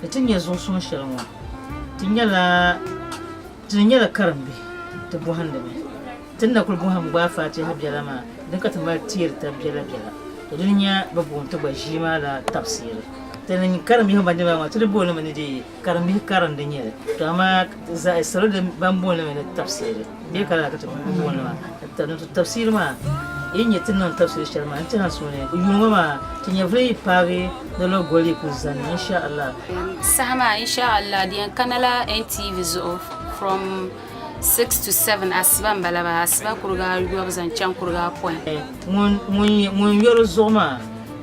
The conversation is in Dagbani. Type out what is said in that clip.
Ni ti nya zuɣu suŋ shɛli ŋɔ, ti nyɛla ti ni nyɛla karimbihi ti bɔhindi mi. Ti ni na kul bɔhim gbaai Faatiha biɛla maa din ka ti mali teeri tab biɛla biɛla, to dini nya bɛ booni ti gba ʒii maa la tabisiri. Ti ni nya karimbihi ban di maa maa, ti ni booni mi ni dee karimbihi karindi nyɛli, to amaa zaɣi salo ban booni mi ni tabisiri. Bɛ kana ka ti ku buɣunima ka niŋ ti tabisiri maa, yi ni nyɛ ti ni niŋ tabisiri shɛli maa n-ti ha suhuni. Yuun ŋɔ maa, ti nyɛvili yi paagi ni Logoli kuli zani, inshaAllah. Saha maa, inshaAllah, di yɛn kana la NTV zuɣu from six to seven, asiba m-bala maa, asiba kuriga ayɔbu zaŋ chaŋ kuriga apɔin. Ŋun yɔri zuɣu maa.